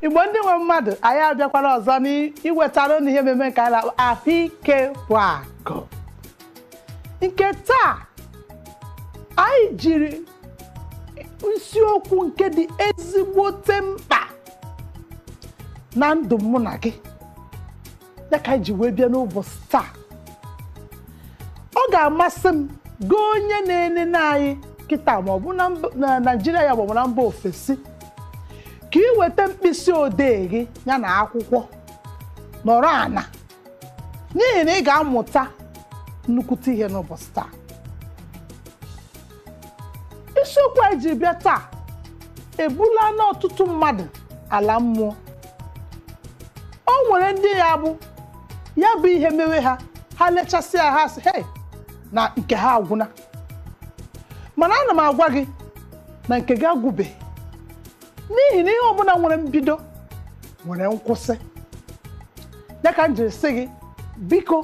igbo ndị nwe mmadụ anyị abịakwara ọzọ n'iwetara unu ihe mmemme nke anyị na-akpọ ahụike bụ akụ nke taa anyị jiri isiokwu nke dị ezigbote mkpa na ndụ mụ na gị ya ka anyị ji wee bịa n'ụbọchị taa ọ ga-amasị m gị onye na-enene anyị kịta ma ọ bụ na naijiria ya maọbụ na mba ofesi ka ị weta mkpịsị odee gị ya na akwụkwọ nọrọ ana n'ihi na ị ga-amụta nnukwute ihe n'ụbọchị taa isiokwu anyị ji bịa taa ebulana ọtụtụ mmadụ ala mmụọ o nwere ndị ya bụ ya bụ ihe mewe ha ha lechasịa ha sị hei na nke ha agwụna mana ana m agwa gị na nke gị agwụbeghị n'ihi na ihe ọbụla nwere mbido nwere nkwụsị ya ka m jiri sị gị biko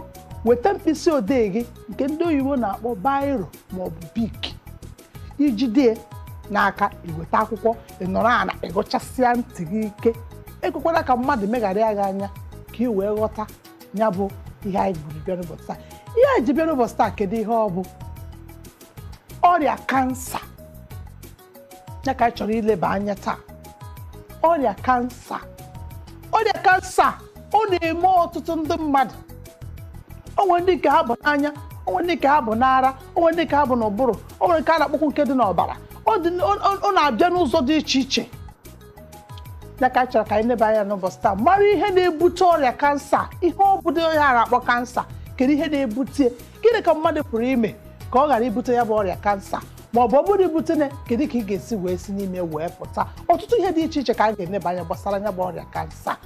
weta mkpịsị odee gị nke ndị oyibo na-akpọ bairo maọbụ bik i jide n'aka i weta akwụkwọ ị nọrọ ana ị ghụchasịa ntị gị ike ekwekwala ka mmadụ megharịa gị anya ka ị wee ghọta ya bụ ihe anyị buru bịa n'ụbọchị taa ihe anyị ji bịa n'ụbọchị taa kedu ihe ọ bụ ọrịa kansa ya ka anyị chọrọ ileba anya taa ọrịa kansa ọrịa kansa ọ na-eme ọtụtụ ndị mmadụ o nwere ndị nke ha bụ n'anya o nwere ndị nke ha bụ n'ara o nwere ndị nke ha bụ n'ụbụrụ o nwere nke a na-akpọkwu nke dị n'ọbara ọ na-abịa n'ụzọ dị iche iche ya ka anyị chọrọ ka anyị leba anya n'ụbọchị taa mara ihe na-ebute ọrịa kansa ihe ọ bụdị ihe a na-akpọ kansa kedu ihe na-ebute ya? gịnị ka mmadụ pụrụ ime ka ọ ghara ibute ya bụ ọrịa kansa ma ọ bụ ọ bụrụ i butena kedu ka ị ga-esi wee si n'ime wee pụta ọtụtụ ihe dị iche iche ka a ga-eneba anya gbasara ya bụ ọrịa kansa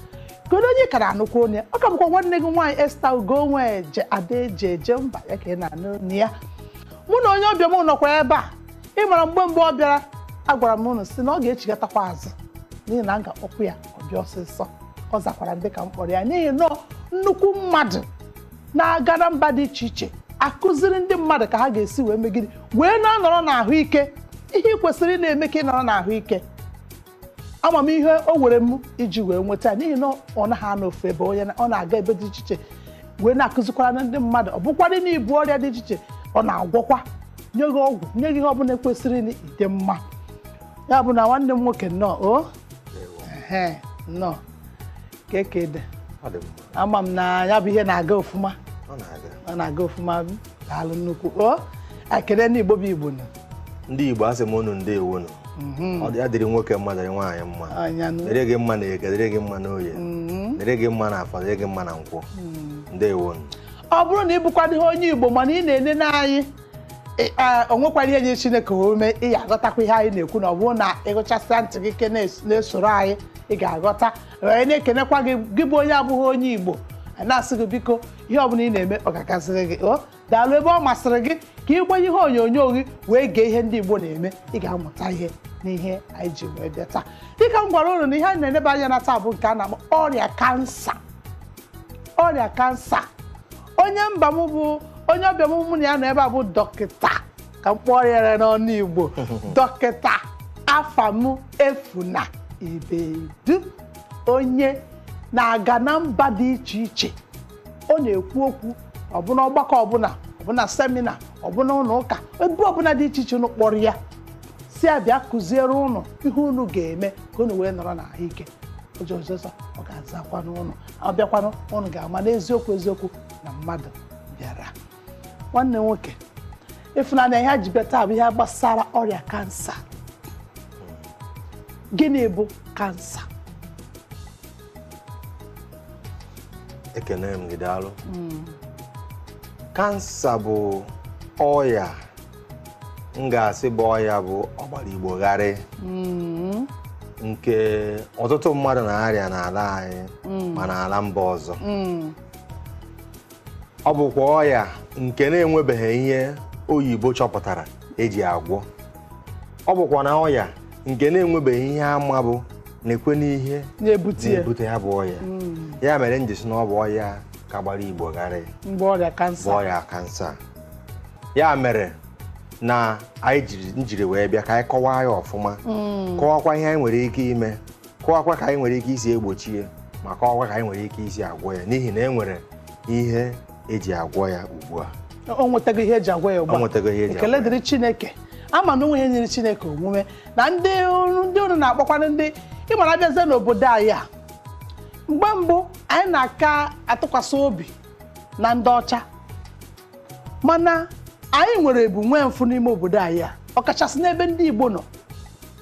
kedu onye ka a na-anụkwa onu ya ọ ka bụkwa nwanne gị nwaanyị Esther Ugonweje Ada eje eje mba ya ka ị na-anụ onu ya mụ na onye ọbịa m nọkwa ebe a ị mara mgbe mgbe ọ bịara agwara m unu sị na ọ ga-echigatakwa azụ n'ihi na m ga-akpọkwu ya ọ bịa ọsịsọ ọ zakwara m dịka m kpọrọ ya n'ihi na nnukwu mmadụ na-aga na mba dị iche iche akụziri ndị mmadụ ka ha ga-esi wee megide wee na-anọrọ n'ahụike ihe ị kwesịrị ị na-eme ka ị nọrọ n'ahụike ama m ihe o were m iji wee nweta ya n'ihi na ọ naghị anọ ofu ebe onye na- ọ na-aga ebe dị iche iche wee na-akụzikwara na ndị mmadụ ọ bụkwadị na i bu ọrịa dị iche iche ọ na-agwọkwa nye gị ọgwụ nye gị ihe ọbụla kwesịrị na ị dị mma ya bụ na nwanne m nwoke nnọọ o Ehe, nnọọ kee ka ọ dị Ọ dị mma. ama m na ya bụ ihe na-aga ọfụma ọ na-aga ọfụma daalụ nnukwu o ekele ndị igbo bụ igbo nọ ndị igbo asị m unu ndewo nụ mhm. ọ dị ya dịrị nwoke mma dịrị nwaanyị mma dịrị gị mma na eke dịrị gị mma na oye mhm. dịrị gị mma na afọ dịrị gị mma na nkwọ mhm. ndewo nụ ọ bụrụ na ị bụkwadịghị onye igbo mana ị na-enene anyị o nwekwarọ ihe nyịrị chineke ome ị ga-aghọtakwa ihe anyị na-ekwu na ọ bụrụ na ị gechasie ntị gị ike na-esoro anyị ị ga-aghọta anyị na-ekenekwa gị gị bụ onye abụghị onye Igbo anyị na-asị gị biko ihe ọbụla ị na-eme ọ ga-agaziri gị o daalụ ebe ọ masịrị gị ka ị gbanye ihe onyonyo gị wee gee ihe ndị Igbo na-eme ị ga-amụta ihe n'ihe anyị ji wee bịa taa dịka m gwara unu na ihe anyị na-eneba anya na taa bụ nke a na-akpọ ọrịa kansa ọrịa kansa onye mba m bụ onye ọbịa m mụ na ya nọ ebe a bụ dọkịta ka m kpọrọ ya n'ọnụ igbo dọkịta afamefuna ibedu onye na-aga na mba dị iche iche ọ na-ekwu okwu ọbụna ọgbakọ ọbụla ọbụna semina ọbụna ụlọ ụka ebe ọbụla dị iche iche unu kpọrọ ya sị ya bịa kụziere ụnụ ihe unu ga-eme ka unu wee nọrọ na ahụike ọsọ ọsọ ọ ga-azakwanụ unu ọ bịakwanụ ụnụ ga-ama n'eziokwu eziokwu na mmadụ bịara nwanne nwoke ịfụnanya ihe e ji bịa taa bụ ihe gbasara ọrịa kansa gịnị bụ kansa ekene m gị daalụ hmm. kansa bụ ọya m ga-asị bụ ọya bụ ọgbara igbo gharị hmm. nke ọtụtụ mmadụ na-arịa n'ala anyị hmm. ma n'ala mba ọzọ ọ bụkwa ọya nke na-enwebeghị ihe oyibo chọpụtara eji agwọ ọ bụkwa na ọya nke na-enwebeghị ihe a ma bụ nekwanụ ihe na-ebute ya bụ ọya hmm. ya mere m ji sị na ọ bụ ọya ka gbara igbo gharị bụ ọrịa kansa ọrịa kansa ya mere na anyị jiri wee bịa ka anyị kọwaa ya ọfụma hmm. kọwakwa ihe anyị nwere ike ime kọwakwa ka anyị nwere ike isi egbochi ya ma kọwakwa ka anyị nwere ike isi agwọ ya n'ihi na e nwere ihe eji agwọ ya ugbu a o nwetago ihe eji agwọ ya ugbu a O nwetago ihe eji agwọ ya. ekele dịrị chineke ama na o nweghị ihe nyịrị chineke omume na ndị unu- ndị unu na-akpọkwana ndị ịmara abịazie n'obodo anyị a mgbe mbụ anyị na-aka atụkwasị obi na ndị ọcha mana anyị nwere ebu nwee mfụ n'ime obodo anyị a ọkachasị n'ebe ndị igbo nọ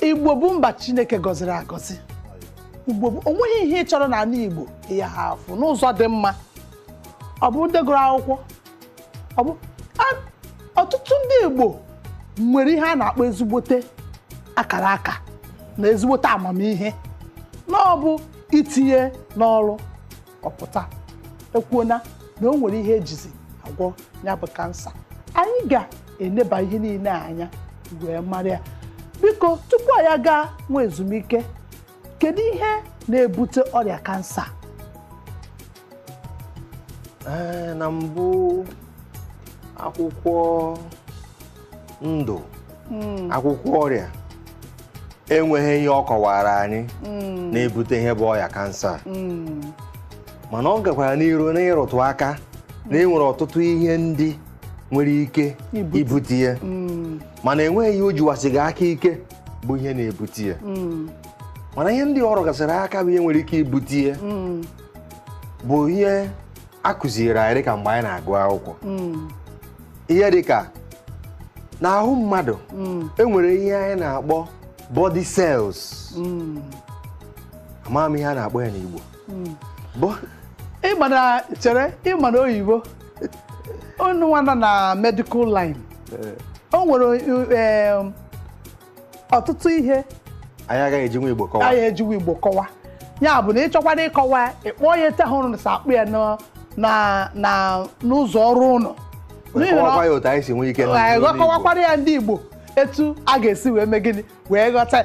igbo bụ mba chineke gọziri agọzi igbo bụ onweghị ihe ị chọrọ n'ala igbo ya ha afụ n'ụzọ dị mma ọ bụ ndị gụrụ akwụkwọ ọ bụ a- ọtụtụ ndị igbo nwere ihe a na-akpọ ezigbote akara aka na ezigbote amamihe na ọ bụ itinye n'ọrụ ọ pụta ekwuona na o nwere ihe ejizi agwọ ya bụ kansa anyị ga-eneba ihe niile a anya wee mara ya biko tupu anyị agaa nwa ezumike kedu ihe na-ebute ọrịa kansa Ee, na mbụ akwụkwọ ndụ akwụkwọ ọrịa enweghị ihe ọ kọwara anyị hmm. na-ebute ihe bụ ọya kansa hmm. mana ọ gakwara n'iru n'ịrụtụ aka na enwere ọtụtụ ihe ndị nwere ike ibute ya hmm. mana enweghị ihe o jiwasịghị aka ike bụ ihe na-ebute ya mana ihe ndị ọ rụgasịrị aka bụ ihe nwere ike ibute ya bụ ihe a kụziere anyị dịka mgbe anyị na-agụ akwụkwọ mm. ihe dịka n'ahụ mmadụ mm. enwere ihe anyị na-akpọ body cells mm. amaghị m ihe a na-akpọ ya n'Igbo ị ma na chere ị ma na oyibo unu nwa nọ na medical line eh. o nwere eh, ọtụtụ ihe anyị agaghị ejinwu igbo kọwa anyị ejiwa igbo kọwa ya bụ na ị chọkwara ịkọwa ya, ị kpọọ ya etu ahụ ụnụ si akpọ ya na- na- na- n'ụzọ ọrụ ụnụ N'ihi na- kọwakwa ya otu anyị si nwee ike Ee, gị akọwakwara ya ndị igbo etu a ga-esi wee mee gịnị wee ghọta ya.